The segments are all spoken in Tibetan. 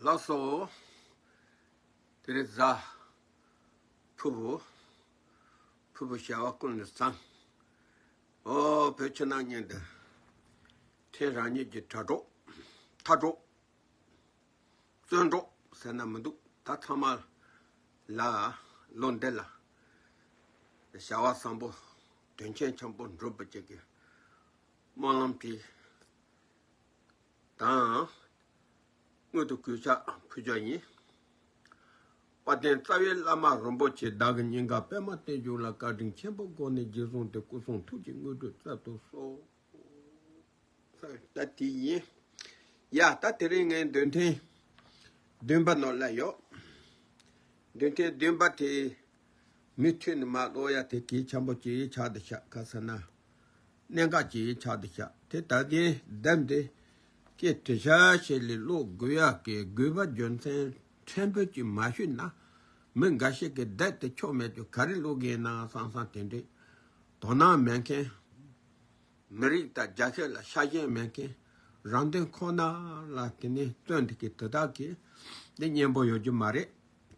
ལགས་སོ། དེ་ནས་བཛྲ། ཕུར་བུ། ཕུར་བུ་བྱ་བ་ཀུན་ལ་བཟང། ཨོ་བོད་ཕྱི་ནང་གཉིས་འདི། ཕྲན་རང་ཉིད་ཀྱི་དྲ་གྲོགས། མཐའ་གྲོགས། བཙོན་གྲོགས་ཟེར་ན་མི་འདུག་ད་ཚང་མ། ལ། བློ་འདས་ལ། བྱ་བ་བཟང་པོ། དོན་ཆེན་ཆེན་པོ་འགྲུབ་པ་བྱེད་དགོས། སྨོན་ལམ་དེ་དང་སྔོན་དུ་གུས་ཕྱག་ཕུལ་བྱ་ཡིན། བ་དན་རྩ་བའི་བླ་མ་རིན་པོ་ཆེ་བདག་གི་སྙིང་ག་པད་མ་བསྟན་འབྱུང་ལ་བཀའ་དྲིན་ཆེན་པོ་དགོངས་ནས་རྗེས་བཟུང་སྟེ་སྐུ་གསུང་ཐུགས་ཀྱི་དངོས་གྲུབ་བསྩལ་དུ་གསོལ། ད་དེ་ཡིན་ཡ། ད་དེ་རིང་ངའི་འདོན་ཐེངས་བདུན་པ་ནོར་སླ་ཡོད། འདོན་ཐེངས་བདུན་པ་དེ་མི་མཐུན་ནི་མ་གློ་ཡ་དེ་གས་ཆམ་པོ་ཅི་རིགས་ཆགས་འདི་ཆགས་ག་ས་ན། གནད་འགག་ཅིག་ཡིན་ཆགས་འདུག་ཤག་དེ་ད་གིན་བསྡད་འདི་སྐད་དྲི་ཤག་ཤེད་ལས་བློ་དགོས་ཡག་གི་དགོས་པ་རྒྱུ་མཚན་ཕྲན་བུ་ཅིག་མ་ཞུས་ན་མི་འགའ་ཞིག་གི་བསྡད་དེ་ཆོ་མེད་ཀྱི་ག་རེ་བློ་དགེ་ཡིན་ནའང་སང་སང་དེ་འདྲའི་དོ་སྣང་མེད་མཁན། མི་རིགས་དང་རྒྱ་ཤེས་ལ་ཤ་ཞེན་མེད་མཁན་རང་དོན་ཁོ་ན་ལ་དེ་ནས་བརྩོན་འདུག་གི་དེ་དག་གིས་འདི་སྙན་པོ་ཡོད་རྒྱུ་མ་རེད་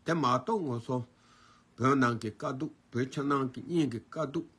དེ་མ་གཏོགས་ངོ་སོ་བོད་ནང་གི་དཀའ་སྡུག་བོད་ཕྱི་ནང་གི་གཉིས་ཀྱི་དཀའ་སྡུག།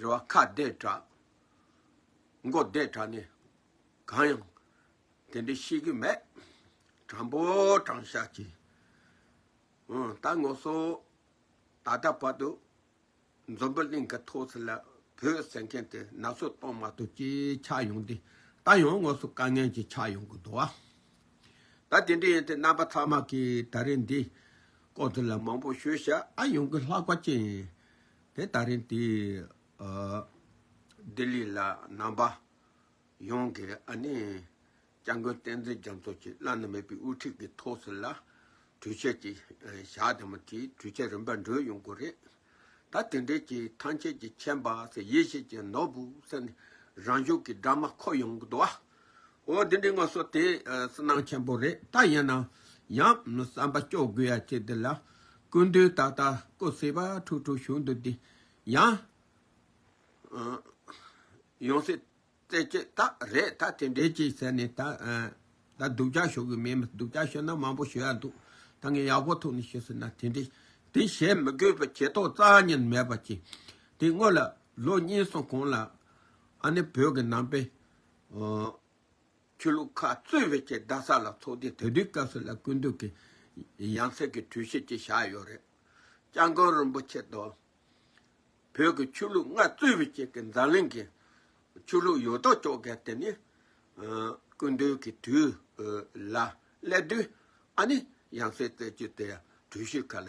རེ་བ་ཁ་བརྡས་གྲགས། མགོ་བརྡས་གྲགས་ནི་གང་ཡང་དེ་འདྲའི་ཤེས་ཀྱི་མེད། དྲང་པོ་དྲང་བཞག་གི་ད་ངོ་སོ། ད་ལྟ་བར་དུ་འཛོམས་པོ་གླིང་གི་ཐོག་ཚེ་ལ་བོད་ཟེར་མཁན་དེ་ན་ཚོད་གཏོང་མ་ཐུབ་ཀྱི་ཆགས་ཡོང་དེ་ད་ཡང་དངོས་སུ་དཀའ་ངལ་གྱི་ཆགས་ཡོང་གི་འདུག་ད་དེ་འདྲ་ཡིན་དེ་རྣམ་པ་ཚང་མ་གིས་ད་རིང་འདིའི་སྐོར་དེ་ལ་མང་པོ་ཤོད་ཤ་ཨ་ཡོང་གི་ལྷག་པ་ཅན་དེ་ད་རིང་དེ་ལྡི་ལི་ལ་རྣམ་པ་ཡོངས་ཀྱི་ཨ་ནེ་སྐྱབས་མགོན་བསྟན་འཛིན་རྒྱ་མཚོ་བཅས་བླ་ན་མེད་པའི་དབུ་ཁྲིད་ཀྱི་ཐོག་ཟི་ལ་གྲོས་ཆོད་ཅིག་བཞག་དེ་མུ་མཐུད་གྲོས་ཆོད་རིམ་པར་འགྲོས་ཡོང་དགོས་རེད། ད་དེ་འབྲེལ་གྱི་ཐང་ཆད་ཀྱི་མཆན་པ་སེ་ཡེ་ཤེས་ཀྱི་ནོར་བུ་སེ་ནི་རང་ཤུགས་ཀྱི་སྦྲགས་མ་ཁོ་ཡོང་གི་འདུག་ཨ། འོ་དེ་འདྲའི་ངོ་སོ་དེ་སུན་སྣང་ཆེན་པོ་རེད་ད་ཡིན་ན་ཡང་བསམ་པ་སྐྱོ་དགོས་ཡ་ཁྱེད་འདི་ལ་ཀུན་འདུས་ད་ལྟ་ཀོ་སེ་བ་ཁྲུག་ཁྲུག་བྱུང་འདུག་འདི་ཡང་ཡོང་སྲིད་རྩེད་ཆས་དག་རེད་ད་དེ་འདྲས་ཅིག་ཟེར་ནས་ད་སྡུག་ཅག་ཞུ་གི་མེད་མི་སྡུག་ཅག་ཞུ་ན་མང་པོ་ཞུ་ཡ་འདུག་ད་ངས་ཡག་པོ་ཐུག་ནས་ཞུ་སྲིད་ན་དེ་འདྲས་དེ་བྱེད་མི་དགོས་པའི་བྱེད་ཏོག་རྩ་གཉིས་མེད་པ་ཅིག་དེ་དངོས་ལ་ལོ་གཉིས་སོང་གོང་ལ་ཨ་ནེ་བོད་ཀྱི་ནང་པའི་ཆོས་ལུགས་ཁག་གཙོས་བོད་ཀྱི་རྡ་ས་ལ་ཚོགས་སྡེ་དེ་དུས་སྐབས་སུ་ལ་སྐུ་མདུན་གྱི་ཡང་སྲིད་ཀྱི་གྲོས་གཞི་ཅིག་བཞག་ཡོད་རེད། ལྕང་སྒང་རིན་པོ་ཆེ་དང། བོད་ཀྱི་ཆོས་ལུགས་ལྔ་གཙོས་བོད་ཀྱི་འཛམ་གླིང་གི་ཆོས་ལུགས་ཡོད་དོ་ཅོག་གི་དེ་ནི་སྐུ་མདུན་གྱི་དུས་ལ་སླེབས་དུས་ཨ་ནི་ཡང་སྲིད་བཙལ་རྒྱུ་དེ་གྲོས་གཞི་ག་ལ་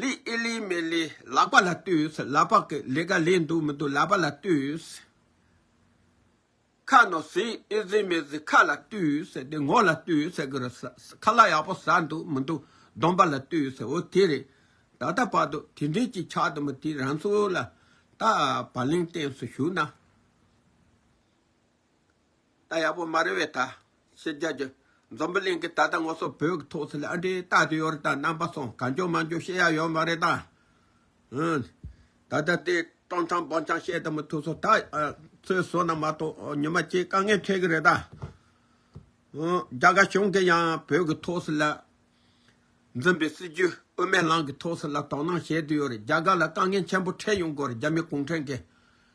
ལི་ཨི་ལི་མེ་ལི་ལག་པ་ལ་བཏུས། ལ་དཔག་གི་ལས་ཀ་ལས་འདུག་མི་འདུག་ལ་བ་ལ་བཏུས། ཁ་ནོ་ཟི་ཨི་ཟི་མེ་ཟི་ཁ་ལ་བཏུས། དེ་ངོ་ལ་བཏུས། ཁ་ལ་ཡག་པོ་ཟ་འདུག་མི་འདུག་སྡོམ་པ་ལ་བཏུས། འོ་དེ་རེད། ད་ལྟ་བར་དུ་དེ་འདྲའི་གཅིག་ཆགས་དུ་མ་དེ་རང་ཚོ་ལ་ད་བར་ལིང་ཏེན་སུ་ཞུགས་ན། རྟ་ཡག་པོ་མ་རེད་བས་ད། ཤེས་རྒྱ་རྒྱུ། འཛོམས་པོ་གླིང་གི་ད་ལྟ་ངོ་སོ་བོད་ཀྱི་ཐོག་སུ་ལ་ཨ་འདྲའི་རྟ་དེ་ཡོད་རེད་ད་རྣམ་པ་སོང་ག་འགྱོ་མ་འགྱོ་ཤེས་ཡ་ཡོད་མ་རེད་ད། ཧུན། ད་ལྟ་དེ་སྤྲང་ཆང་སྦང་ཆང་བཤད་ད་མི་ཐུག་སོ་ད། ཚོའི་བཟོ་ན་མ་གཏོགས་ཉི་མ་སྐྱེས་དཀའ་ངལ་འཕྲད་གི་རེད་ད། ཧུན། རྒྱ་གར་གཞུང་གི་ཡང་བོད་ཀྱི་ཐོག་སུ་ལ། འཛིན་པའི་སྲིད་བྱུས་དབུ་མའི་ལམ་གྱི་ཐོག་སུ་ལ་དོ་སྣང་བྱེད་དུ་ཡོད་རེད་རྒྱ་གར་ལ་དཀའ་ངལ་ཆེན་པོ་འཕྲད་ཡོང་གོ་རེད་རྒྱ་མི་གུང་ཁྲན་གྱི།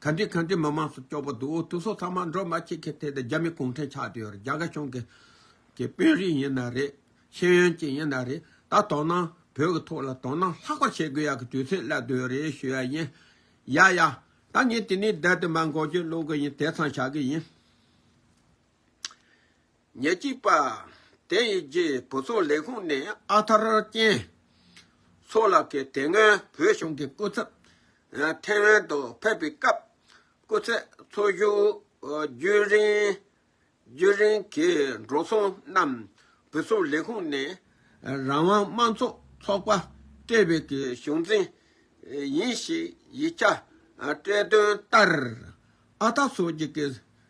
ག་འདྲི་ག་འདྲི་མི་མང་སོགས་སྐྱོ་པོ་འདུག་འོ་དུག་སོགས་ཚང་མ་འགྲོ་མ་ཁྱི་ཁྱི་དེ་དང་རྒྱ་མི་གུང་ཁྲན་ཆགས་དུས་རྒྱ་གར་གཞུང་གི་གི་དཔོན་རིགས་ཡིན་ན་རེད་ཤེས་ཡོན་ཅན་ཡིན་ན་རེད་ད་དོ་ན་བོད་གི་ཐོག་ལ་དོ་ན་ལྷག་པ་བྱེད་དགོས་ཡག་གི་དུས་ཚོད་སླེབས་དུས་རེད་ཞུ་ཡག་ཡིན་ཡ་ཡ་ད་ངས་དེ་ནས་བསྡད་དེ་མར་འགོག་རྒྱུ་སློག་གི་ཡིན་དེ་ཚང་བྱ་གི་ཡིན། ཉེར་གཅིག་པ། དེ་ཡི་རྗེས་བུ་ཚོང་ལས་ཁུངས་ནས་ཨ་ཐར་ཅན། ཚོགས་ལགས་ཀྱིས་དེ་སྔོན་བོད་གཞུང་གི་སྐུ་ཚབ་ཐེ་ཝན་དུ་ཕེབས་པའི་སྐབས། སྐུ་ཚད་འཚོ་བཞུགས་རྒྱུན་རིང་གི་འགྲོ་སོང་རྣམས་བུ་ཚོང་ལས་ཁུངས་ནས་རང་དབང་དམངས་གཙོ་ཚོགས་པ་སྤྲད་པའི་གི་གཞུང་འཛིན་ཡིན་ཞེས་ཡིག་ཆ་སྤྲད་དོན་ལྟར། ཨ་ཐར་ཚོགས་ཀྱི་གི།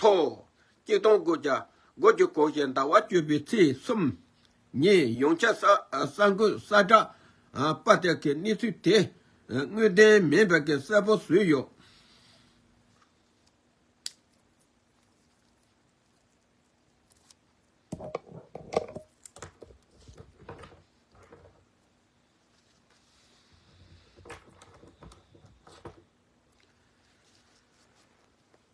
ཐོ། སྐྱིལ་ཐོང་སྒོ་བརྒྱ་སྒོ་བརྒྱུད་གོང་བཞིན་ཟླ་བ་བཅུ་པའི་ཚེས་གསུམ་ཉིན་ཡོངས་ཁྱབ་གསར་འགོད་གསལ་བསྒྲགས་པར་དེ་གའི་གནས་ཚུལ་དེ་དངོས་བདེན་མིན་པ་གསལ་པོ་བཟོས་ཡོད།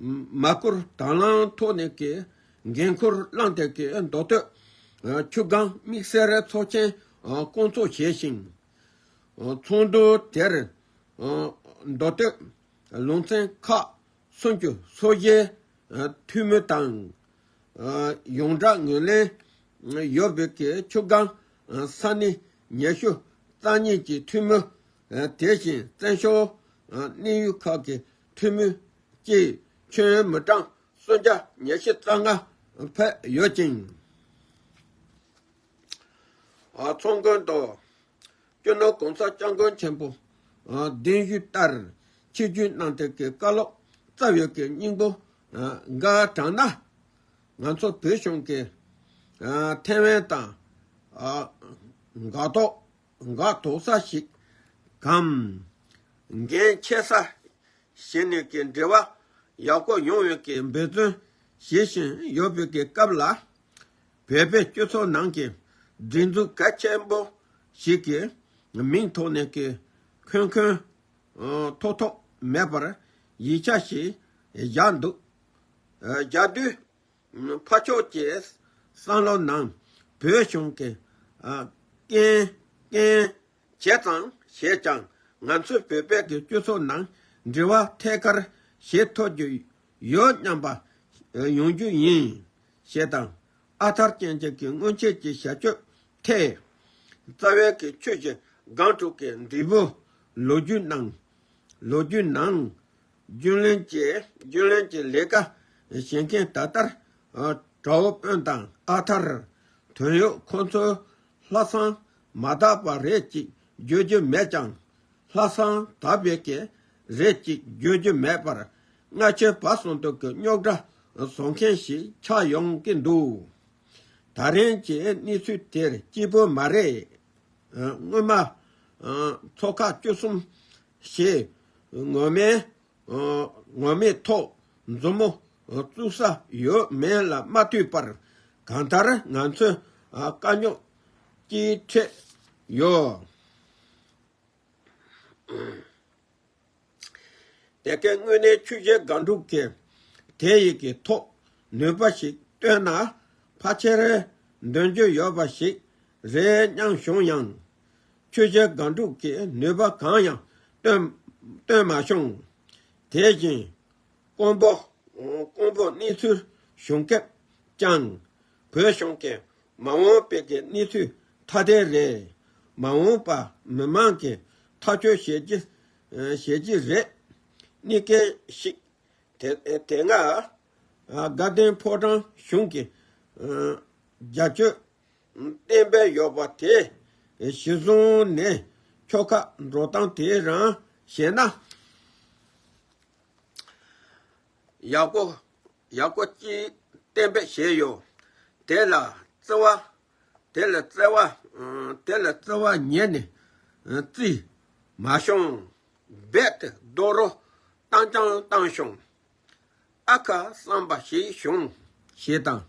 མ་བསྐོར་དང་བླངས་ཐོག་ནས་ཀྱི་འགན་འཁུར་བླངས་ཐད་ཀྱི་མདོ་སྟོད་ཆུ་སྒང་དམིགས་བསལ་ཚོགས་ཆེན་སྐོང་ཚོགས་བྱས་ཤིང། ཚོགས་འདུ་དེར་མདོ་སྟོད་ལུང་ཚན་ཁག་སུམ་ཅུ་སོ་བཞི་འཐུས་མི་དང། ཡོངས་བསྒྲགས་ངོས་ལེན་ཡོད་འབོད་ཀྱི་ཆུ་སྒང་ས་གནས་ཉེ་ཤུ་རྩ་གཉིས་ཀྱི་འཐུས་མི། དེ་བཞིན་བཙན་བྱོལ་གནས་ཡུལ་ཁག་གི་ཐུན་མིན་གྱི་ཁྱོན་མི་གྲངས་སུམ་བརྒྱ་ཉེར་བཞི་རྩ་ལྔ་ཕེབས་ཡོད་ཅིང། ཚོང་དགོན་དུ་སྐྱོ་ནོར་གོང་ས་སྐྱབས་མགོན་ཆེན་པོ་གདན་བཞུགས་ལྟར་ཆིག་བརྒྱུད་གནང་སྟེགས་ཀྱི་བཀའ་སློབ་སྩལ་ཡོད་ཀྱི་སྙིང་པོ་འགའ་དྲངས་ན། ང་ཚོ་བོད་གཞུང་གི་ཐེ་ཝན་དང་འགག་ཐོག་འགག་དོག་ས་ཞིག་གམ། འགན་འཁྱེར་ས་ཞིག་ནས་ཀྱི་འབྲེལ་བ་ཡག་པོ་ཡོང་བའི་ཀྱི་འབད་བརྩོན་བྱེད་བཞིན་ཡོད་པའི་ཀྱི་སྐབས་ལ། བོད་པའི་སྤྱི་ཚོགས་ནང་གི་སྒྲིག་འཛུགས་གལ་ཆེན་པོ་ཞིག་གི་མིང་ཐོག་ནས་ཀྱི་ཁོན་ཁོན་ཐོག་ཐོག་མེད་པར་ཡིག་ཆ་ཞིག་བཞག་འདུག་བཞག་དུས་ཕ་མཆོག་ཅེས་སང་ལོ་ནང་བོད་གཞུང་གི་རྐྱེན་བྱས་ཙང་བྱས་ཀྱང་ང་ཚོའི་བོད་པའི་གི་སྤྱི་ཚོགས་ནང་འབྲེལ་བ་ཐད་ཀར་བྱེད་ཐོབ་རྒྱུ་ཡོད་སྙམ་པ་ཡོང་རྒྱུ་ཡིན། ཞེས་དང། ཨ་ཐར་སྐྱེ་མཆེད་ཀྱི་སྔོན་ཆད་ཀྱི་བྱ་སྤྱོད་ཐད། རྩ་བའི་གི་ཆོས་ཀྱི་སྒང་དྲུག་གི་འདུས་པོ་ལོ་རྒྱུས་ནང། རྒྱུན་ལས་ཀྱིརྒྱུན་ལས་ཀྱི་ལས་ཀ་བྱེད་མཁན་ད་ལྟར་གྲྭ་བོ་དཔོན་དང་ཨ་ཐར་དོན་ཡོད་ཁོ་ཚོའི་ལྷ་བསང་མ་དག་པ་རེད་ཅིག་བརྗོད་རྒྱུ་མེད་ཀྱང། ལྷ་བསང་དག་པའི་གི་རེད་ཅིག་བརྗོད་རྒྱུ་མེད་པར་སྔ་ཆོལ་བ་ཟོང་དུག་གི་རྙོག་དྲ་བཟོ་མཁན་ཞིག་ཆགས་ཡོང་གི་འདུག་ད་རིང་གི་གནས་ཚུལ་དེར་སྐྱིད་པོ་མ་རེད། སྔོན་མ། ཚོ་ཁག་བཅུ་གསུམ་ཞེས། ངོ་མའི། ངོ་མེད་ཐོག་མཛུབ་མོ་བཙུགས་ས་ཡོད་མེད་ལ་མ་ལྟོས་པར། གང་ལྟར་ང་ཚོའི་དཀའ་རྙོག་ཅི་འཕྲད་ཡོད་དེ་གའི་དངོས་གནས་ཆོས་བྱེད་སྒང་དྲུག་གི་དེ་ཡི་གི་ཐོག་ནུས་པ་ཞིག་བཏོན་ན་ཕ་ཆེར་འདོན་རྒྱུ་ཡོད་པ་ཞིག་རེད་སྙམ་བྱུང་ཡང། ཁྱོད་ཀྱི་སྒང་དྲུག་གི་ནུས་པ་གང་ཡང་བཏོན་མ་བྱུང། དེ་བཞིན་ཀོང་པོ་གནས་ཚུལ་ཞུ་སྐབས་ཀྱང་བོད་གཞུང་གིས་མ་འོངས་བོད་ཀྱི་གནས་ཚུལ་ཐ་དད་རེད། མ་འོངས་པ་མི་མང་གིས་ཐག་གཅོད་བྱེད་ཀྱི་རེད། གནས་སྐལ་ཞིག་དེ་སྔ་དགའ་ལྡན་ཕོ་བྲང་གཞུང་གིས་རྒྱ་གཅོད་བསྟན་པའི་གཡོག་པ་དེ་གཞི་བཟུང་ནས་ཁྱོ་ག་འགྲོ་སྟངས་དེ་རང་ཤེས་ན། ཡག་པོ་ཡག་པོ་གཅིག་བསྟན་པའི་ཞལ་ཡོད་དེ་ལ་བརྩེ་བ་དེ་ལ་བརྩེ་བ་དེ་ལ་བརྩེ་བ་ཉན་ནས་རྩིས་མ་ཤོང་རྦད་དེ་རྡོ་རོ་བཏང་རྐྱང་བཏང་ཤོང་ཨ་ཁ་བསམ་པ་ཞིག་བྱུང། ཞེས་དང།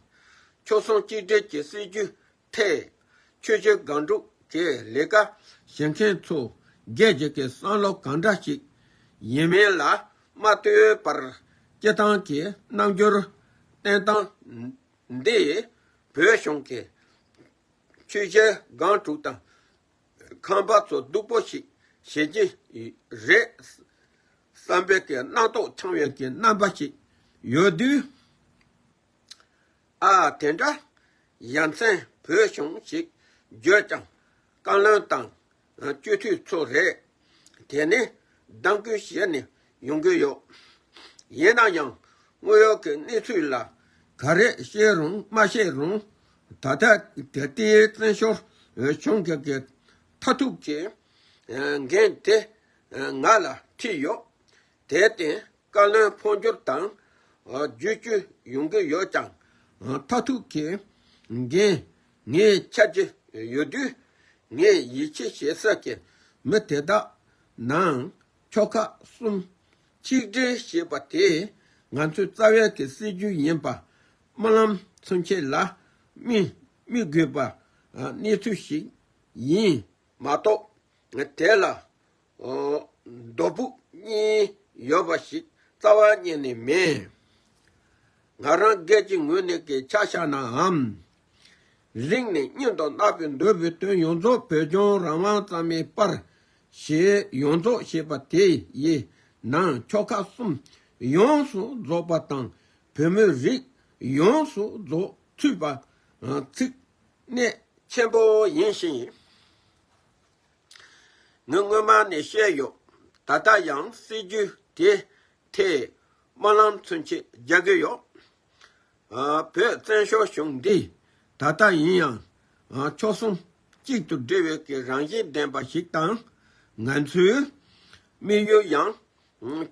ཁྱོད་སོང་གཅིག་འབྲེལ་གྱི་སྲིད་བྱུས་ཐད། ཆོས་བྱེད་སྒང་དྲུག་ཅེས་ལས་ཀ་བྱེད་མཁན་ཚོ་རྒྱལ་གཅེས་ཀྱི་བསམ་བློ་གང་འདྲ་ཞིག་ཡིན་མིན་ལ་མ་ལྟོས་པར་སྐྱེ་སྟངས་ཀྱི་རྣམ་འགྱུར་བསྟན་སྟངས་འདིས་བོད་གཞུང་གི། ཆོས་བྱེད་སྒང་དྲུག་དང། ཁང་པ་ཚོ་སྡུག་པོ་ཞིག་བྱེད་ཀྱིན་རེད་བསམ་པའི་སྣང་དོགས་འཆང་བའི་རྣམ་པ་ཞིག་ཡོད་དུས། ཨ་ཨ་དེ་འདྲ་ཡ་མཚན་བོད་གཞུང་ཞིག་བརྗོད་ཀྱང་བཀའ་བློན་དང་སྤྱི་འཐུས་ཚོ་རེད། དེ་ནི་གདམ་གའི་གཞས་ནས་ཡོང་གི་ཡོད། ཡིན་ན་ཡང་དངོས་ཡོད་ཀྱི་གནས་ཚུལ་ལ་ག་རེ་བཤད་རུང་མ་བཤད་རུང་ད་ལྟ་ད་ལྟའི་བཙན་བྱོལ་བྱུང་རྒྱལ་གྱི་མཐའ་ཐུག་གི་འགན་དེ་ང་ལ་འཁྲིས་ཡོད། དེར་བརྟེན་བཀའ་བློན་འཕོ་འགྱུར་དང་བརྒྱུད་བསྐྱོད་ཡོང་གི་ཡོད་ཀྱང། མཐའ་ཐུག་གི་འགན་ངས་འཁྱེར་གྱི་ཡོད་དུས། ངས་ཡིད་ཆེས་བྱེད་ས་ཀྱི་མི་དེ་དག་ནང་ཁྱོ་ཁ་གསུམ། ཆིག་སྒྲིལ་ཞེས་པ་དེ་ང་ཚོའི་རྩ་བའི་གི་སྲིད་ཇུས་ཡིན་པ། སྨོན་ལམ་མཚོན་ཆེད་ལ་དམིགས་དགོས་པ་གནས་ཚུལ་ཞིག་ཡིན་མ་གཏོགས། དེ་ལ་རྡོ་ཕུག་གཉིས་ཡོད་པ་ཞིག་རྩ་བ་ཉིད་ནས་མེད། ང་རང་སྒེར་གྱི་ངོས་ནས་སྐད་ཆ་བཤད་ནའང། རིང་ནས་སྙིང་དང་བརྣག་པའི་འདོད་པའི་དོན་ཡོངས་རྫོགས་བོད་ལྗོངས་རང་དབང་གཙང་མའི་པར་གཞི་ཡོངས་རྫོགས་ཞེས་པ་དེ་ཡི་ནང་ཕྱོགས་ཁག་གསུམ་ཡོངས་སུ་རྫོགས་པ་དང་བོད་མི་རིགས་ཡོངས་སུ་རྫོགས་ཚུད་པ། ཚིག་གནད། ཆེན་པོ་ཡིན་ཞིང། ངས་སྔོན་མ་ནས་བཤད་ཡོད། ད་ལྟ་ཡང་སྲིད་ཇུས་དེའི་ཐད་དམར་ལམ་མཚོན་ཆེད་རྒྱག་གི་ཡོད། བོད་བཙན་བྱོལ་གཞུང་འདི་ད་ལྟ་ཡིན་ཡང་ཕྱོགས་གསུམ་གཅིག་ཏུ་སྒྲིལ་བའི་གི་རང་བཞིན་ལྡན་པ་ཞིག་དང། ང་ཚོའི་དམིགས་ཡུལ་ཡང་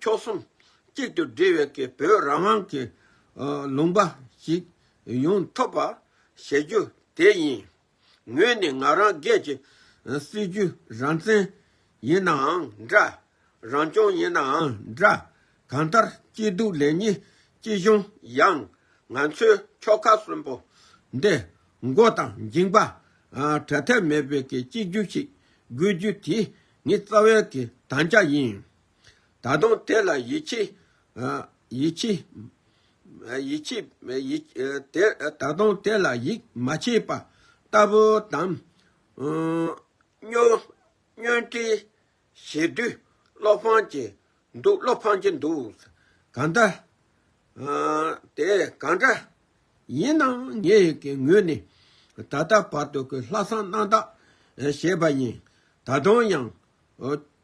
ཕྱོགས་གསུམ་གཅིག་ཏུ་སྒྲིལ་བའི་གི་བོད་རང་དབང་གི་ལུང་པ་ཞིག་ཡོང་ཐུབ་པ་བྱེད་རྒྱུ་དེ་ཡིན། ངོས་ནི་ང་རང་སྒེར་གྱི་སྲིད་བྱུས་རང་བཙན་ཡིན་ནའང་འདྲ། རང་སྐྱོང་ཡིན་ནའང་འདྲ། གང་ལྟར་སྐྱིད་སྡུག་ལེགས་ཉེས་ཅི་བྱུང་ཡང་ང་ཚོའི་ཁྱོ་ག་གསོན་པོ་འདི་མགོ་དང་མཇིང་པ་བྲལ་ཐབས་མེད་པའི་གཅིག་གྱུར་ཞིག་དགོས་རྒྱུ་དེ་ངའི་རྩ་བའི་དམ་བཅའ་ཡིན། ད་དུང་དེ་ལ་ཡིད་ཆེས། ཡིད་ཆེས། ཡིད་ཆེས། ད་དུང་དེ་ལ་ཡིད་མ་ཆེས་པ་ལྟ་བུ་དང། བསྙོན། བསྙོན་འཕྲི། ཞེ་དུས། བློ་ཕངས་ཀྱི། འདུག་བློ་ཕངས་ཀྱི་འདུག། གང་འདྲ། དེ་གང་འདྲ། ཡིན་ནའང་ངེད་ཀྱི་ངོས་ནས། ད་ལྟ་བར་དུ་གི་ལྷག་བསམ་རྣམ་དག་བྱས་པ་ཡིན། ད་དུང་ཡང།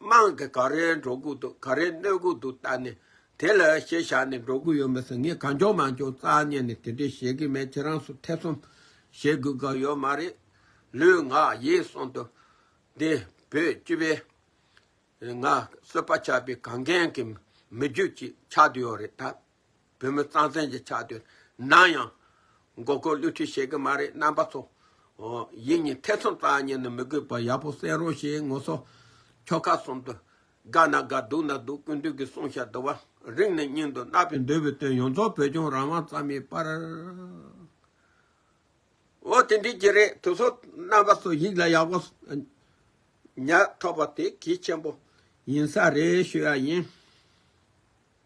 དམངས་དེ་ག་རེ་འགྲོ་དགོས་འདུག་ག་རེ་གནོད་དགོས་འདུག་ལྟ་ནས་དེ་ལ་ཤེས་བཞག་ནས་འགྲོ་དགོས་ཡོད་མི་སྲིད་ངས་གང་བྱུང་མ་བྱུང་རྩ་བརྙེད་ནས་དེ་འདྲས་བྱེད་ཀྱི་མེད་ཁྱེད་རང་ཚོ་ཐེ་ཚོམ་བྱེད་དགོས་དགའ་ཡོད་མ་རེད། ལུས་ངག་ཡིད་གསུམ་དུ་འདི་བོད་སྤྱི་པའི་ངག་གསོད་པ་ཆགས་པའི་གངས་རྒན་གྱི་མི་རྒྱུད་ཅིག་ཆགས་འདོད་ཡོད་རེད་ད། བོད་མི་གཙང་བཙན་གྱི་ཆགས་དུས་ནང་ཡང། མགོ་སྐོར་བསླུ་འཁྲིད་བྱེད་ཀྱི་མ་རེད་རྣམ་པ་ཚོ། ཡིད་གཉིས་ཐེ་ཚོམ་བཏང་ཉན་ནི་མི་དགོས་པར་ཡག་པོ་གསན་རོགས་ཞེས་ངོ་སོ། ཁྱོ་ཁ་གསུམ་དུ། དགའ་ན་དགའ་སྡུག་ན་སྡུག་ཀུན་འདུས་ཀྱི་གསུང་ཤ་དུ་བ་རིག་ནས་སྙིང་དུ་བརྣག་པའི་འདོད་པའི་དོན་ཡོངས་རྫོགས་བོད་ལྗོངས་རང་དབང་ཙམ་མེད་པར། འོ་དེ་འགྲིག་གི་རེད་དུ་ཚོ་རྣམ་པ་ཚོ་ཡིག་ལ་ཡག་པོ་ཉར་ཐོབ་པ་དེ་གལ་ཆེན་པོ་ཡིན་ས་རེད་ཤོད་ཡ་ཡིན།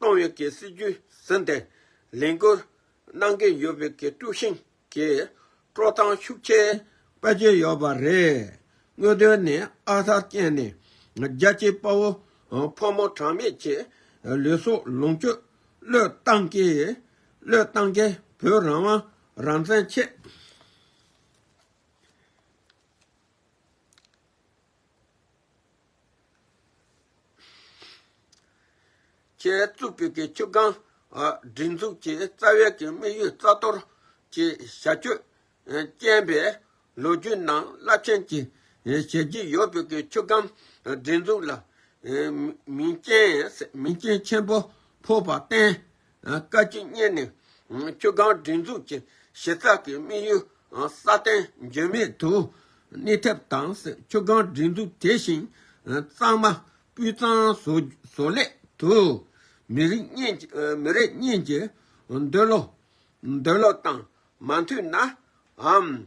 ཏང་ཡོན་གྱི་སྲིད་ཇུས་ཟིན་ཏེ་ལས་འགུལ་གནང་གི་ཡོད་པའི་ཀྲུའུ་ཞིན་གྱི་སྤྲོ་གཙང་ཤུགས་ཆེ། དཔལ་ཇེ་ཡོད་པ་རེད། དངོས་དོན་ནི་ཨ་ཧར་རྐྱེན་ནི་རྒྱལ་གཅེས་དཔའ་བོ་ཕོ་མོ་གྲངས་མེད་ཀྱི་ལུས་སྲོག་ལོངས་སྤྱོད་བློས་བཏང་གིས་བློས་བཏང་གིས་བོད་རང་དབང་རང་བཙན་ཆེད། བཅས་གཙུག་ཕུད་ཀྱི་ཆུ་སྒང་སྒྲིག་འཛུགས་ཀྱི་རྩ་བའི་གི་དམིགས་ཡུལ་རྩ་གཏོར་གྱི་བྱ་སྤྱོད་རྐྱེན་པས་ལོ་རྒྱུས་ནང་རླབས་ཆེན་གྱི་བྱས་རྗེས་ཡོད་ཕུད་ཀྱི་ཆུ་སྒང་སྒྲིག་འཛུགས་ལ་མིང་རྐྱེན་ཆེན་པོ་ཕོག་པར་བརྟེན་བཀའ་སྤྱི་བསྙེན་ནས་ཁྱོད་གངས་སྒྲིག་འཛུགས་ཀྱི་གཞི་རྩ་གི་དམིགས་ཡུལ་སྲ་བརྟན་འགྱུར་མེད་དུ་གནས་ཐབས་དང་ཁྱོད་གངས་སྒྲིག་འཛུགས་དེ་བཞིན་གཙང་མ་སྤུས་གཙང་བཟོ་སླད་དུ་མི་རིགས་གཉིས་ཀྱི་འདོད་བློ་དང་མ་མཐུན་ནའང།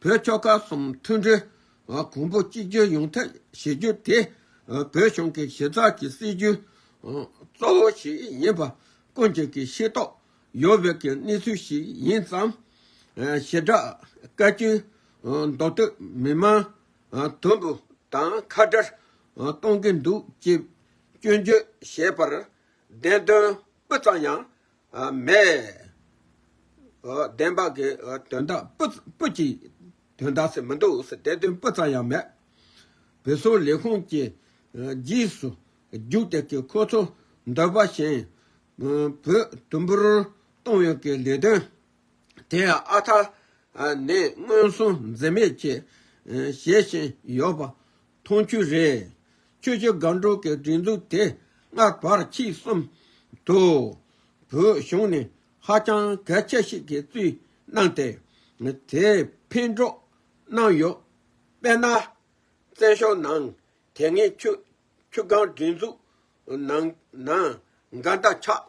བོད་ཕྱོགས་ཁག་གསུམ་མཐུན་སྒྲིལ་དང་གོང་བུ་གཅིག་གྱུར་ཡོང་ཐབས་བྱེད་རྒྱུ་དེ་བོད་གཞུང་གི་གཞི་རྩ་གྱི་སྲིད་ཇུས་གཙོ་བོ་ཞིག་ཡིན་པ་ཀུན་གྱིས་ཤེས་རྟོགས་ཡོད་པའི་གནས་ཚུལ་ཞིག་ཡིན་ཙང། ཞེ་དྲག་བཀའ་བཀྱོན་མདོ་སྟོད་མི་དམངས་དོན་པོ་དང་ཁ་བྲལ་གཏོང་གི་འདུག་ཅེས་སྐྱོན་བརྗོད་བྱས་པར་བདེན་དོན་སྤུ་ཙམ་ཡང་མེད། བདེན་པ་གི་དོན་དག་སྤུ་གྱི་དོན་དག་སེ་མི་འདུག་སེ་དེ་དོན་སྤུ་ཙམ་ཡང་མེད། བོད་སོག་ལས་ཁུངས་ཀྱི་རྗེས་སུ་རྒྱུག་སྟེ་གི་ཁོ་ཚོ་འདོད་པ་བཞིན་བོད་དུམ་བུར་གཏོང་ཡོད་གི་ལས་དོན་དེ་ཡང་ཨ་ཐ་ནས་མངོན་སུམ་འཛེམ་མེད་ཀྱིས་བྱེད་བཞིན་ཡོད་པ་མཐོང་བཅུ་རེ། ཆོས་རྗེ་སྒང་དྲུག་གི་སྒྲིག་འཛུགས་དེ་སྔ་བར་ཕྱི་གསུམ་དུ་བོད་གཞུང་ནས་ཧ་ཅང་གལ་ཆེ་ཞིག་གི་བཙུད་གནང་སྟེ་དེ་འཕེན་གྲོགས་གནང་ཡོད། དཔེར་ན། བཙན་བྱོལ་ནང་དེ་སྔའི་ཆོས་སྒང་སྒྲིག་འཛུགས་ནང་ན་མགར་མདའ་ཆགས།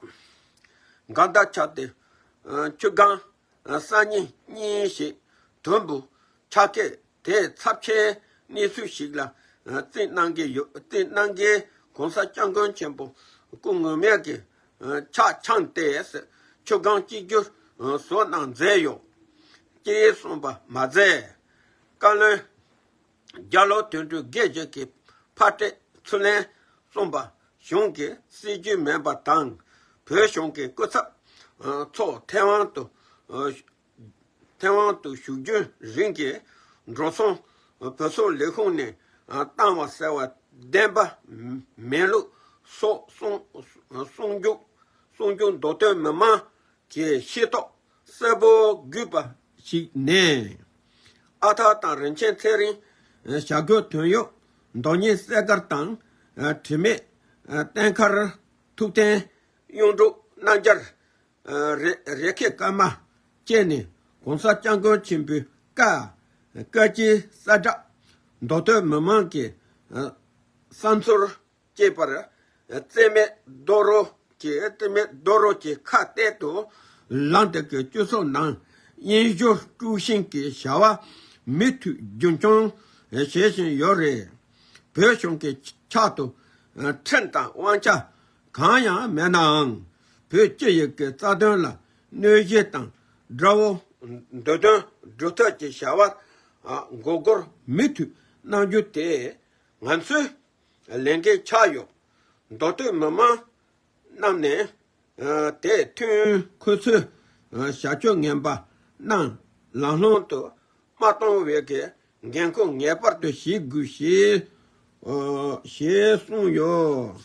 མགར་མདའ་ཆགས་ཏེ་ཆོས་སྒང་སང་ཉིན་གཉིས་ཤིག་དོན་པོ་ཆ་སྐད་དེས་ཚབས་ཆེའི་གནས་ཚུལ་ཞིག་ལ་རྩིས་གནང་གི་ཡོད་རྩིས་གནང་མཁན་གོང་ས་སྐྱབས་མགོན་ཆེན་པོ་སྐུ་ངོ་མས་གི་ཕྱག་འཆང་ཏེ་ཟེར་ཆོས་སྒང་གཅིག་གྱུར་བཟོ་གནང་མཛད་ཡོད་ཀྱི་གསུངས་པ་མ་ཟད་བཀའ་བློན། རྒྱ་ལོ་དོན་དྲུག་བརྒྱད་བརྒྱད་ཀྱི་ཕ་སྤྲེལ་ཚུར་ལན་གསུམ་པ་གཞུང་གི་སྲིད་ཇུས་མེད་པ་དང་བོད་གཞུང་གི་སྐུ་ཚབ་ཚོ་མཐེ་བོང་དུ་མཐེ་བོང་དུ་བཞུགས་རྒྱུན་རིང་གི་འགྲོ་སོང་བོད་སོག་ལས་ཁུངས་ནས་བཏང་བ་ཟེར་བ་བདེན་པ་མིན་ལུགས་སོགས་གསུང་རྒྱུགས་མདོ་སྟོད་མི་མང་གིས་ཤེས་རྟོགས་གསལ་པོ་བརྒྱུད་པ་ཞིག་ནས། ཨ་ཐ་དང་རིན་ཆེན་ཚེ་རིང་བྱ་རྒོད་དོན་གཡོག་མདོ་སྙེ་གསས་མཁར་དང་དྲི་མེད་བསྟན་མཁར་ཐུབ་བསྟན་གཡུང་དྲུག་སྣ་འབྱར་རེ་ཁེ་སྐར་མ་བཅས་ནས་གོང་ས་སྐྱབས་མགོན་ཆེན་པོའི་བཀའ་བཀའ་སྤྱི་གསལ་བསྒྲགས་མདོ་སྟོད་མི་མང་གི་བསམ་ཚུལ་སྐྱེས་པར་བརྩེ་མེད་རྡོ་རོ་གྱིས་ཁ་གཏད་དུ་ལངས་ཏེ་ཀྱི་སྤྱི་ཚོགས་ནང་དབྱིན་ཞོ་དཀྲུགས་ཤིང་གི་བྱ་བ་མུ་མཐུད་རྒྱུན་འཁྱོངས་བྱེད་བཞིན་ཡོད་རེད། བོད་གཞུང་གི་ཕྱག་ཏུ་ཁྲིམས་དང་དབང་ཆ་གང་ཡང་མེད་ནའང་བོད་སྤྱི་ཡི་གི་རྩ་དོན་ལ་གནོད་གཞི་དང་དགྲ་བོ་འདོད་དོན་སྒྲུབ་ཐབས་ཀྱི་བྱ་བར་འགོག་རྒོལ་མུ་མཐུད་གནང་རྒྱུ་དེ་ང་ཚོའི་ལས་འགན་ཆགས་ཡོད། མདོ་སྟོད་མི་དམངས་རྣམས་ནས་དེ་མཐུན་ཁོ་ཚོའི་བྱ་སྤྱོད་ངན་པ་རྣམས་ལང་ལོང་དུ་མ་གཏོང་བའི་འགན་ཁུར་ངེས་པར་དུ་བཞེས་དགོས་ཞེས་གསུངས་ཡོད།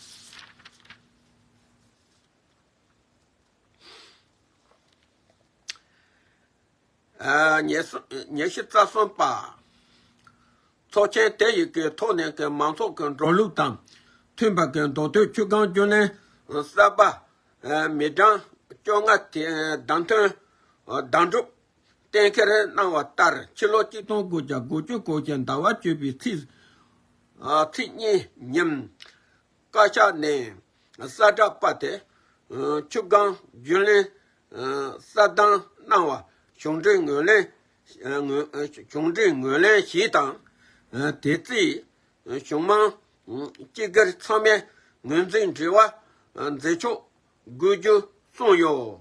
ཉེར་ཞི་རྩ་གསུམ་པ། ཚོགས་ཆེན་དེ་ཡི་གེའི་ཐོག་ནས་ཀྱི་མང་ཚོགས་ཀྱི་འགྲོ་ལུགས་དང་མཐུན་པ་ཀྱི་མདོ་སྟོད་ཆུ་སྒང་རྒྱུན་ལས་གསར་པ། མི་གྲངས་བཅོ་ལྔ་དེ་བདམས་ཐོན་བདམས་སྒྲུབ་གཏན་འཁེལ་གནང་བ་ལྟར་ཕྱི་ལོ་གཅིག་སྟོང་དགུ་བརྒྱ་དགུ་བཅུ་གོ་གྱི་ཟླ་བ་བཅུ་པའི་ཚེས་གཉིས་ཉིན། བཀའ་ཤག་ནས་གསལ་བསྒྲགས་པ་དེ་ཆུ་སྒང་རྒྱུན་ལས་གསལ་བཏང་གནང་བ་གཞུང་འབྲེལ་ངོས་ལེན་གཞུང་འབྲེལ་ངོས་ལེན་ཞུས་དང། དེ་རྩིས་གཞུང་མང་སྤྱི་སྒེར་ཚང་མས་ངོས་འཛིན་དྲི་བ་མཛད་ཆོག་དགོས་རྒྱུ་གསུངས་ཡོད།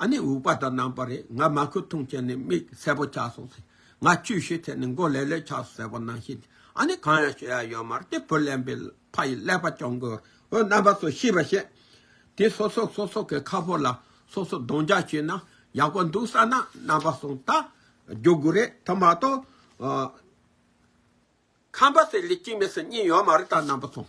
ཨ་ནི་འུག་པ་དང་ནང་པ་རེད་ང་མ་ཁུ་འཐུང་བྱས་ནས་མིག་གསལ་པོ་ཆགས་སོང་ཟེར་ང་བཅུ་བཞི་ཐེབས་ནས་མགོ་ལེ་ལེ་ཆགས་སོང་ཟེར་བ་ནང་བཞིན་དེ་ཨ་ནི་གང་ཡང་བྱེད་ཡ་ཡོད་མ་རེད་དེ་བུ་གླེན་པའི་ཕ་ཡིས་ཀླད་པ་གཅོང་གི་འོད་རྣམ་པ་སོགས་ཤེས་པར་བྱས། དེ་སོ་སོ་སོ་སོ་གི་ཁ་ཕོ་ལ་སོ་སོ་རྡུང་རྒྱག་བྱས་ན་ཡག་པོ་འདུག་བསམ་ན་རྣམ་པ་སོང་ད་རྒྱུག་དགོས་རེད་དེ་མ་གཏོགས། ཁམས་པ་སེར་ལས་གཅིག་མེད་སེར་གཉིས་ཡོད་མ་རེད་ད་རྣམ་པ་སོང།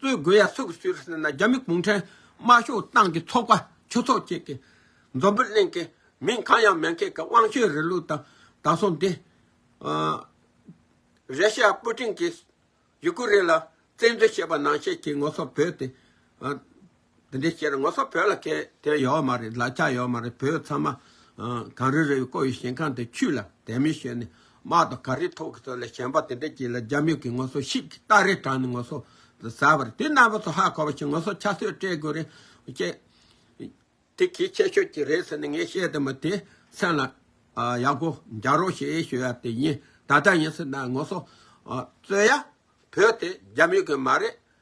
གཙོས་དགོས་ཡ་སུ་གི་སུད་རེད་ཟེར་ན་རྒྱ་མི་གུང་ཁྲན་དམར་ཤོག་ཏང་གི་ཚོགས་པ་ཆོས་ཚོགས་བཅས་ཀྱི་མཛོ་འབོད་གླེང་མཁན་མིང་གང་ཡང་མེད་མཁན་གི་དབང་ཆོས་རེད་ལུགས་དང་དང་སོང་དེ། རེ་ཤ་ཡ་པུ་ཀྲིན་གྱིས་ཡུ་ཀུ་རེན་ལ་བཙན་འཛུལ་བྱས་པ་ནང་བཤད་ཀྱི་ངོ་སོ་བོད་དེ། འདི་འདྲའི་ཁྱེད་རང་ངོ་སོ་བོད་ལ་ཁེ་དེ་ཡོད་མ་རེད་ལ་ཆ་ཡོད་མ་རེད་བོད་ཚང་མ་གངས་རི་རི་བའི་བསྐོར་བའི་ཞིང་ཁང་དེ་ཆུས་ལ་དད་མོས་བྱེད་ནས་དམག་དང་གངས་རི་ཐོག་གི་ཚོ་ལ་ཞེན་པ་དེ་འདྲ་སྐྱེས་ལ་རྒྱ་མི་གིས་ངོ་སོ་ཤིག་གིས་སྟག་རི་དྲངས་ནས་ངོ་སོ་ཟ་བ་རེད་དེ་རྣམ་པ་ཚོ་ཧ་གོ་བ་ཞིག་ངོ་སོ་ཆ་སོས་སྤྲད་དགོས་རེད་ཅེས། དེ་གིས་ཆེ་ཤོས་ཀྱི་རེད་ཟེར་ནས་ངས་བཤད་དེ་མོ་དེ་སེམས་ལ་ཡག་པོ་འཇགས་རོགས་ཞེས་ཞུ་ཡ་དེ་ཡིན་ད་ལྟ་ཡིན་ཟེར་ན་ངོ་སོ་རྩོད་ཡ་བོད་དེ་རྒྱ་མི་གི་མ་རེད་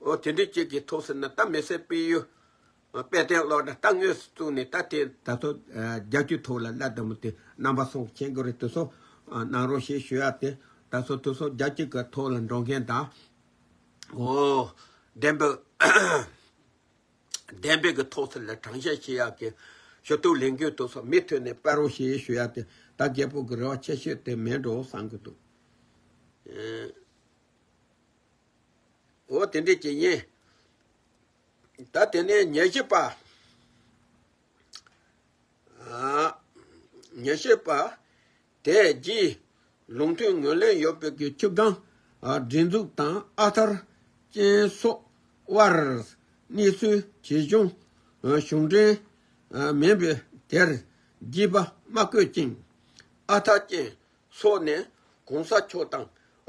འོ་དེ་འདྲའི་གཅིག་གིས་ཐུགས་ཟིན་ན་ད་མི་སེར་སྤེལ་ཡུལ་དཔལ་ལྡན་སློབ་གྲྭ་ལྟ་ངོས་སུ་བཙུགས་ནས་ད་དེ། ད་ཐོག་རྒྱ་སྐྱུག་ཐུགས་ལ་བླ་དད་མོ་དེ་རྣམ་པ་སོང་མཁྱེན་གོ་རེ་དུས་སོ་གནང་རོགས་ཞེས་ཞུ་ཡག་དེ་ད་སོ་དུས་སོ་རྒྱ་སྐྱུག་གི་ཐོག་ལ་འགྲོ་མཁན་དང། འོ། བདེན་པའི། བདེན་པའི་གི་ཐོག་ཟིན་ལ་དྲང་བཤད་བྱེད་ཡག་གི་ཞུ་གཏུག་ལེན་རྒྱུའི་དུས་སོ་མི་ཐོན་ནས་སྤེལ་རོགས་ཞེས་ཞུ་ཡག་དེ་ད་རྒད་པོ་གི་རེ་བ་ཆེ་ཤོས་དེ་མེད་འགྲོ་བསམ་གི་འདུག། འོ་དེ་འདྲའི་བྱེད་ཡིན། ད་དེ་ནས་ཉེར་བཞི་པ། ཉེར་བཞི་པ། དེ་རྗེས་ལུང་ཐུན་ངོས་ལེན་ཡོད་པའི་གི་ཆུ་སྒང་སྒྲིག་འཛུགས་དང་ཨ་ཐར་ཅན་སོགས་དབར་གནས་ཚུལ་ཇི་བྱུང་གཞུང་འབྲེལ་མིན་པའི་དེར་རྒྱས་པ་མ་བཀོད་ཅིང་ཨ་ཐར་ཅན་སོགས་ནས་གོང་ས་མཆོག་དང་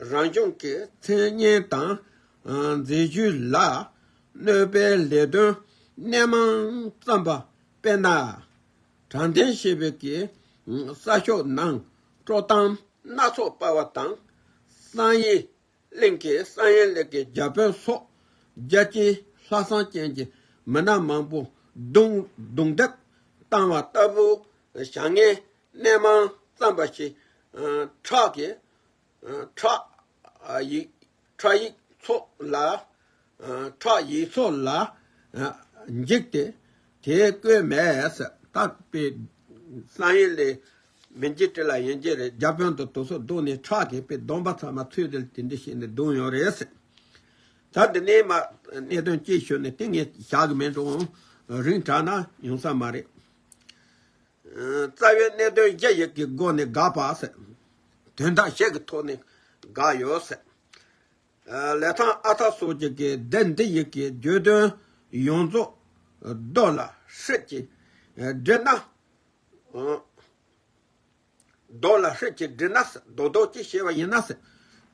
རང་ལྗོངས་ཀྱི་མཚན་སྙན་དང་མཛད་བརྒྱུད་ལ་གནོད་པའི་ལས་དོན་སྣེ་མང་བརྩམས་པ་དཔེར་ན། དྲང་བདེན་ཞེས་པའི་གེ་སར་ཤོག་ནང་དཀྲོག་གཏམ་སྣ་ཚོགས་སྤར་བ་དང། གསང་ཡིག་གླིང་གི་ས་ཡན་ལེགས་ཀྱི་རྒྱ་བོད་སོགས་རྒྱལ་སྤྱིའི་ལྷ་བསང་ཅན་གྱི་མི་སྣ་མང་པོ་རྡུང་རྡེག་བཏང་བ་ལྟ་བུའི་བྱ་ངན་སྣེ་མང་བརྩམས་པ་ཞིག་ཁྲག་གི་ཁྲག་ཡིག་ཚོགས་ལ་ཁྲག་ཡིག་སོགས་ལ་འཇིགས་ཏེ། དེའི་བསྐོས་མས་བཏགས་པའི་གསང་ཡེ་ལས། མི་འཇིགས་དྲི་ལ་ཡེ་འཇིགས་རེག་བྱ་དཔོན་དུ་དུག་སོགས་བདུག་ནས་ཁྲག་གེགས་པའི་སྡོམ་པ་ཚང་མ་ཚུལ་དེ་ལ་དེ་འདྲས་བྱས་ནས་བདུག་ཡོང་རེ་ཟེར། ད་འདི་ནས་མ་གནས་དོན་གྱིས་ཞུ་ནས་ཏིང་ངེ་བྱ་གི་མིན་འགྲོ་འོང་རིང་དྲགས་ན་ཡོང་ས་མ་རེད། རྩ་བའི་གནད་དོན་བརྒྱད་ཡིག་གི་སྒོ་ནས་དགག་པ། དོན་དག་བཤད་ཀྱི་ཐོག་ནས་དགག་ཡོད། ལས་དང་ཨ་ཐ་སོགས་ཀྱི་གི་སྡེ་འདི་ཡི་གི་བརྗོད་དོན་ཡོངས་རྫོགས་རྡོ་ལ་ཧྲིལ་གྱིས་བསྒྲིལ་ན། རྡོ་ལ་ཧྲིལ་གྱིས་བསྒྲིལ་ན་རྡོ་རྡོ་ཅི་ཞེས་པ་ཡིན་ན།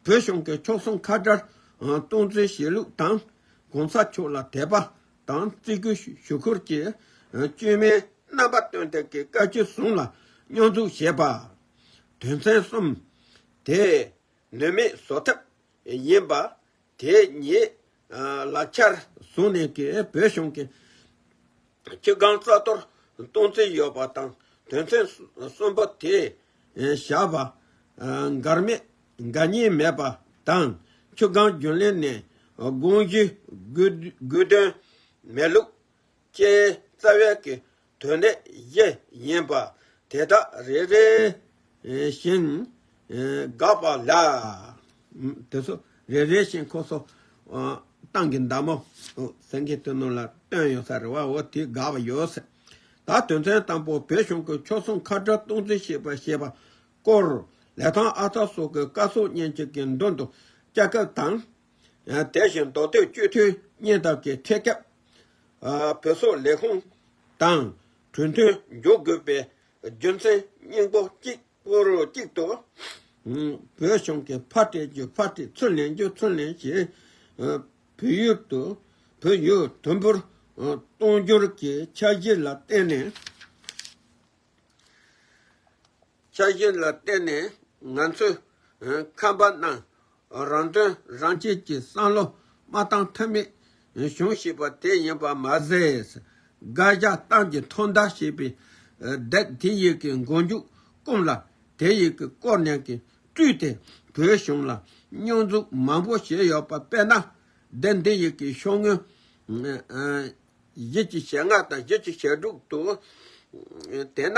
བོད་གཞུང་གི་མཆོག་གསུམ་ཁ་བརྡར་གཏོང་ཚུལ་བཞེད་ལུགས་དང་གོང་ས་མཆོག་ལ་དད་པ་དང་བརྩི་བཀུར་ཞུ་ཁུལ་གྱི་བཅོས་མའི་རྣམ་པ་སྟོན་ཐབས་ཀྱི་བཀའ་བཅུ་བཟུང་ལ་སྙོར་འཛུགས་བྱས་པ། དོན་ཚན་གསུམ་དེས་ནུས་མེད་བཟོ་ཐབས་ཡིན་པ་དེ་ཉིད་ལག་ཆར་བཟུང་ནས་ཀྱི་བོད་གཞུང་གི་སྤྱི་ཁང་རྩ་གཏོར་གཏོང་རྩིས་ཡོད་པ་དང་དོན་ཚན་གསུམ་པོ་དེ་བཞག་པ་འགར་མེད་འགའ་གཉིས་མེད་པ་དང་ཆུ་སྒང་རྒྱུན་ལས་ནས་དགོངས་གཞི་དགོས་དོན་མེད་ལུགས་ཅན་རྩ་བའི་གི་དོན་ལས་བཞི་ཡིན་པ་དེ་དག་རེ་རེ་བཞིན་དགག་པ་ལ། དེ་ཚོ་རེ་རེ་བཞིན་ཁོ་སོ་ཏང་གི་མདའ་མོ་སེང་གེ་ཐུ་ནུ་ལ་བཏོན་ཡོད་ས་རེད་བ་འོ་དེ་དགག་པ་ཡོད་སྲིད། ད་དོན་ཚན་དང་པོ་བོད་གཞུང་གི་ཕྱོགས་གསུམ་ཁ་བྲལ་གཏོང་རྩིས་བྱེད་པ་ཞེས་པ་སྐོར་ལས་ཐང་ཨ་ཚ་སོགས་ཀྱི་བཀའ་སྲོལ་བརྙན་གཅིག་གི་མདུན་དུ་བསྐྱལ་སྐབས་དང། དེ་བཞིན་མདོ་སྟོད་བཅོས་མཐུན་བརྙན་ཐབས་ཀྱི་ཐད་སྐབས་བོད་སོག་ལས་ཁུངས་དང་གྲོས་མཐུན་འཇོག་དགོས་པའི་རྒྱུ་མཚན་སྙིང་པོ་གཅིག་པུར་གཅིག་ཏུ། བོད་གཞུང་གི་ཕར་བཀྲལ་རྒྱུ་ཕར་བཀྲལ་ཚུར་ལེན་རྒྱུ་ཚུར་ལེན་བྱས་བོད་ཡུལ་དུམ་བུར་གཏོང་རྒྱུར་གྱི་འཆར་གཞི་ལ་བརྟེན་ནས། འཆར་གཞི་ལ་བརྟེན་ནས་ང་ཚོས་ཁམས་པ་རྣམས་རང་དོན་རང་གཅེས་ཀྱི་བསམ་བློ་མ་བཏང་ཐབས་མེད་བྱུང་བཞིན་པ་དེ་ཡིན་པ་མ་ཟད། སྒར་རྒྱག་སྟངས་ཀྱི་ཐོག་མདའ་ཞེས་པའི་རྡེག་དེ་ཡིག་གི་མགོ་མཇུག་བསྐུམས་ལ་དེ་ཡིག་གི་སྐོར་ནས་ཀྱི་བཀྲུས་ཏེ་བོད་གཞུང་ལ་སྙོན་འཛུགས་མང་པོ་བྱས་ཡོད་པ་དཔེར་ན། རྡེག་འདི་ཡིག་གི་ཤོག་ངོས་བཞི་གཅིག་ཞེ་ལྔ་དང་བཞི་གཅིག་ཞེ་དྲུག་ཏུ་བལྟས་ན།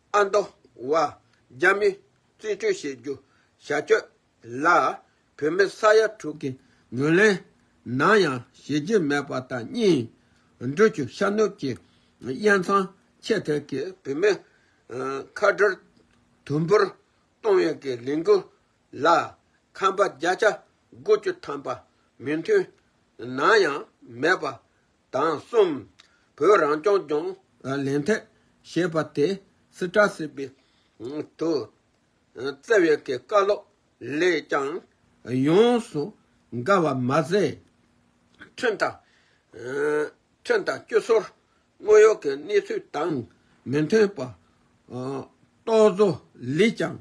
ཨ་མདོ་བ། རྒྱ་མི། རྩིས་སྤྲོད་བྱེད་རྒྱུ། བྱ་སྤྱོད། ལ། བོད་མི་ས་ཡ་དྲུག་གི་ངོས་ལེན། ནམ་ཡང་བྱེད་རྒྱུ་མེད་པ་དང་གཉིས། འགྲུལ་སྐྱོད་ཤར་ནུབ་ཀྱི་དབྱེ་མཚམས་ཆད་ཐད་ཀྱི་བོད་མི། ཁ་བྲལ། དུམ་བུར་གཏོང་བའི་ཀྱི་ལས་འགུལ། ལ། ཁམས་པ་བརྒྱ་ཆ་དགུ་བཅུ་ཐམ་པ་མོས་མཐུན། ནམ་ཡང་མེད་པ། དང་གསུམ། བོད་རང་སྐྱོང་ལྗོངས། ལན་ཐད་ཞེས་པ་དེ་སི་ཏྲ་སི་པི་དུ་བསྩལ་བའི་གི་བཀའ་སློབ་ལས་ཀྱང་ཡོངས་སུ་དགའ་བ་མ་ཟད། ཁྲིམས་དང། ཁྲིམས་དང་སྤྱི་ཟུར་དངོས་ཡོད་ཀྱི་གནས་ཚུལ་དང་མི་མཐུན་པ་རྟོག་བཟོ་ལས་ཀྱང་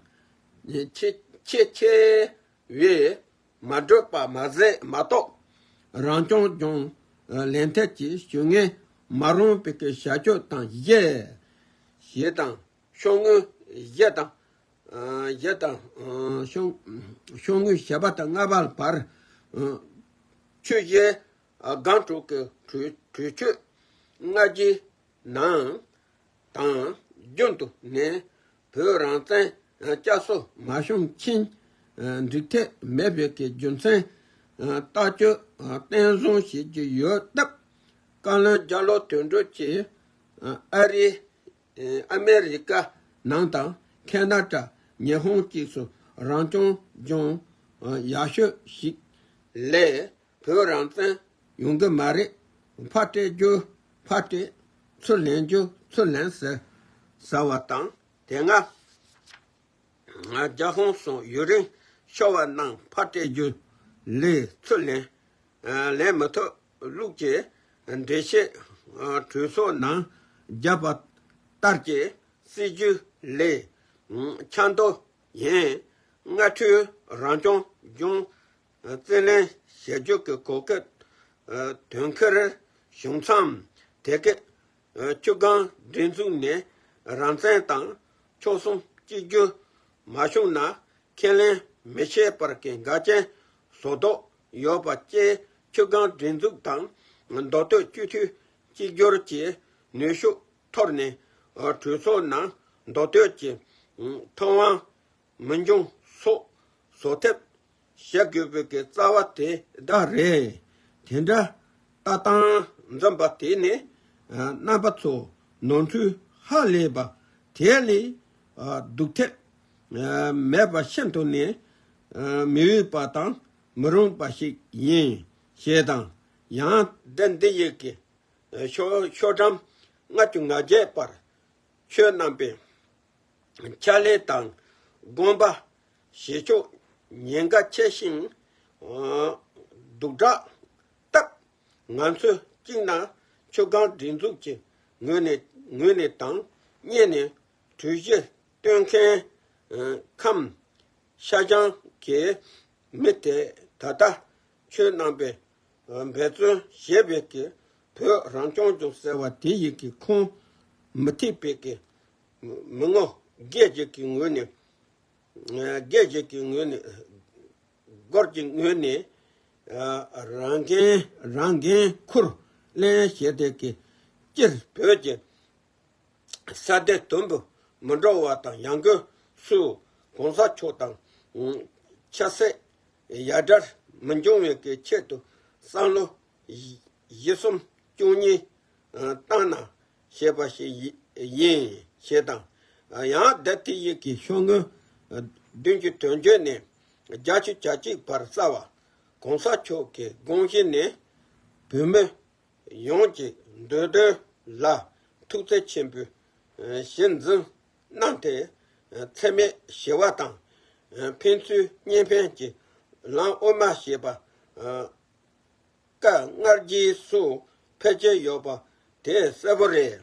ཆེས་ཆེ་བའི་མ་བགྲོད་པ་མ་ཟད་མ་གཏོགས་རང་སྐྱོང་ལྗོངས་ལས་ཐད་ཀྱི་ཇུས་ངན་མ་རུང་བའི་བྱ་སྤྱོད་དང་བརྗེ་ཞེས་དང་ཤོག་ངོས་བཞི་དང། བཞི་དང། ཤོག་ངོས་བཞི་པ་དང་ལྔ་པ་བར་ཆུ་བཞི་སྒང་དྲུག་གི་གྲོས་ཆོད་ལྔ་བཞིའི་ནང་དང་རྒྱུན་དུ་ནས་བོད་རང་བཙན་བསྐྱར་གསོ་མ་བྱུང་མཁན་འགྲིག་ཐབས་མེད་པའི་རྒྱུ་མཚན་ལྟ་སྐྱོ་བསྟན་བཟུང་བྱེད་ཀྱི་ཡོད་སྟབས། བཀའ་བློན་རྒྱ་ལོ་དོན་གྲུབ་ཀྱིས་ཨ་རི། America། ནང་དང་ཁེ་ན་ཏྲ་ཉི་ཧོང་བཅས་སུ་རང་སྐྱོང་ལྗོངས་ཡག་ཤོས་ཤིག་ལས་བོད་རང་བཙན་ཡོང་གི་མ་རེད། ཕ་སྤྲད་རྒྱུ་ཕ་སྤྲད། ཚུར་ལེན་རྒྱུ་ཚུར་ལེན་ཟེར་ཟ་བ་དང་དེ་སྔ་རྒྱ་ཧོང་སོང་ཡུན་རིང་ཤོར་བ་ནང་ཕ་སྤྲད་རྒྱུ་ལས་ཚུར་ལེན་ལེན་མི་ཐུབ་ལུགས་ཀྱི་འགྲེལ་བཤད་གྲོས་ཚོགས་ནང་བརྒྱབ་པ་ལྟར་གྱི་སྲིད་ཇུས་ལས་འཁྱམ་མདོག་ཡིན། སྔ་འཕྲུལ་རང་སྐྱོང་ལྗོངས་རྩིས་ལེན་ཞལ་འཇུག་གི་གོ་སྐབས་དོན་འཁེལ་བྱུང་མཚམས་དེ་གའི་ཆུ་སྒང་སྒྲིག་འཛུགས་ནས་རང་བཙན་དང་ཕྱོགས་གསུམ་གཅིག་གྱུར་མ་བྱུང་ན་ཁས་ལེན་མི་བྱེད་པར་གྱི་འགལ་རྐྱེན་བཟོ་དོགས་ཡོད་པ་བཅས་ཆུ་སྒང་སྒྲིག་འཛུགས་དང་མདོ་སྟོད་སྤྱི་འཐུས་གཅིག་གྱུར་གྱི་ནུས་ཤུགས་འཐོར་ནས་གྲོས་ཚོགས་ནང་མདོ་སྟོད་ཀྱི་མཐོང་དབང་མི་འབྱུང་སོགས་བཟོ་ཐབས་བྱ་དགོས་པའི་གི་རྩ་བ་དེ་དག་རེད། དེ་འདྲ་ལྟ་སྟངས་འཛོམས་པ་དེ་ནི་རྣམ་པ་ཚོ་ནོར་འཁྲུལ་ཧ་ལས་པ་དེ་ལས་སྡུག་ཐབས་མེད་པ་ཤིན་ཏུ་ནས་མི་འོས་པ་དང་མི་རུང་པ་ཞིག་ཡིན་ཞེས་དང་ཡང་བདུད་འདི་ཡི་གི་ཤོ་ཤོ་གྲངས་ལྔ་བཅུ་ང་བརྒྱད་པར་ཆོས་རྣམ་པའི་ཕྱག་ལེན་དང་དགོངས་པ་བཞེས་ཕྱོགས་ཉེན་ཁ་ཆེ་ཞིང། སྡུག་དྲགས་སྟབས། ང་ཚོས་གཅིག་ན་མཆོད་ཁང་སྒྲིག་འཛུགས་ཀྱི་ངོས་ནས་དང་གཉིས་ནས་གྲོས་གཞི་གཏོད་མཁན་ཁམས་ཤ་ཅང་གི་མི་དེ་ད་ལྟ་ཆོས་རྣམ་པའི་འབད་བརྩོན་ཞེས་པའི་གི་བོད་རང་སྐྱོང་ལྗོངས་ཟེར་བ་དེ་ཡི་གི་ཁོངས་མི་ཐེག་པའི་གི་མི་ངོ་རྒྱས་བཅད་ཀྱི་ངོས་ནས་རྒྱས་བཅད་ཀྱི་ངོས་ནས་སྒོར་གྱི་ངོས་ནས་རང་འགན་རང་འགན་འཁུར་ལེན་བྱས་ཏེ་གི་སྤྱིར་བོད་ཀྱི་ས་དེ་དུམ་བུ་མི་འགྲོ་བ་དང་ཡང་སྒོས་སུ་གོང་ས་མཆོག་དང་ཆབ་སྲིད་ཡ་སྒྲར་མི་འབྱུང་བའི་གི་ཆེད་དུ་སང་ལོ། བཞི་གསུམ་བཅུ་གཉིས་བཏང་ན་ཞེས་པ་ཞིག་ཡིན་ཞེས་དང། ཡང་བདེ་ཐི་ཡིག་གི་ཤོག་ངོས་བདུན་གྱི་དོན་བརྗོད་ནས་བརྒྱ་བཅུ་གྱ་གཅིག་བར་རྩ་བ། གོང་ས་མཆོག་གི་དགོངས་གཞི་ནི། བོད་མི་ཡོངས་ཀྱི་འདོད་དོན་ལ་ཐུགས་བརྩེ་ཆེན་པོས་གཞི་འཛིན་གནང་སྟེ། ཚད་མེད་བཞི་བ་དང། ཕན་ཚུན་བསྙེན་ཕན་གྱི་ལམ་དབུ་མ་ཞེས་པ། བཀའ་མངགས་རྗེས་སུ་ཕལ་ཆེར་ཡོད་པ་དེ་གསལ་པོ་རེད།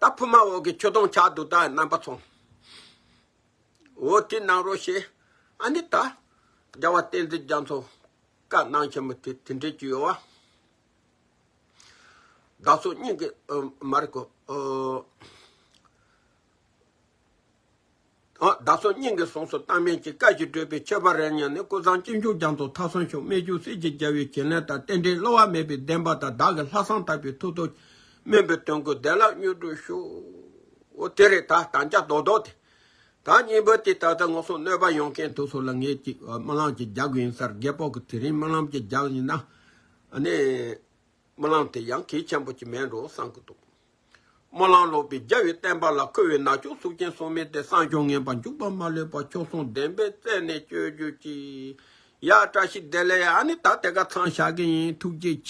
ད་ཕུབ་མ་འོག་གི་ཁྱོད་སྟོང་ཆ་དུག་དག་རྣམ་པ་ཚོང། འོ་དེ་གནང་རོགས་ཞེས་ཨ་ནི་ད། རྒྱལ་བ་བསྟན་འཛིན་རྒྱ་མཚོ་བཀའ་གནང་ཆེན་མོ་དེ་དེ་འདྲའི་གྱུར་ཡོད། བདག་སོགས་སྙིང་གི་མ་རིག་གོ། བདག་སོགས་སྙིང་གི་གཟུངས་སུ་བཏགས་མིན་གྱི་བཀའ་ཅི་བགྲོས་པའི་ཁྱད་པར་རེ་ཉན་ནས་ཀུན་བཟང་སྤྱི་འཇུག་རྒྱང་དུ་མཐའ་སོན་ཆོག་སྨད་ཆུ་སེར་གྱི་རྒྱལ་བའི་བྱིན་ལེན་དང་རྟེན་འབྲེལ་སླུ་བ་མེད་པའི་བདེན་པ་དང་བདག་གི་ལྷག་བསམ་དག་པའི་ཐུགས་དོན་སྨིན་པའི་དོན་ཀུན་བདེ་བླག་མྱུར་འགྲུབ་ཤོག། དེ་རེས་ད་དམ་བཅའ་རྡོག་རྡོག་དེ་དག་གཉིས་པོ་དེ་ད་ལྟ་ངོ་སོང་གནོད་པ་ཡོང་མཁན་དུ་སོང་ལ་ངེད་ཅིག་སྨོན་ལམ་གྱི་རྒྱག་གི་ཡིན་སར་རྒད་པོ་གི་དེ་རིང་སྨོན་ལམ་གྱི་རྒྱག་ཡིན་ན། སྨོན་ལམ་དེ་ཡང་གེགས་ཆེན་པོ་ཅིག་མིན་འགྲོ་བསམ་གྱི་འདུག་སྨོན་ལམ་ལོག་པའི་རྒྱལ་བའི་བསྟན་པ་ལ་མཁོ་བའི་ནག་ཕྱོགས་གཟུགས་ཅན་སོགས་མེད་དེ་བསམ་སྦྱོར་ངན་པ་འཇུག་པ་མ་ལུས་པ་ཕྱོགས་མཚུངས་བདེན་པའི་རྩལ་ནས་སྤྱོད་རྒྱུ་གཅིག་ཡ་བཀྲ་ཤིས་བདེ་ལེགས་ཨ་ནི་ད་དེ་ག་ཚང་བཞག་གི་ཡིན་ཐུགས་རྗེ་ཆེ།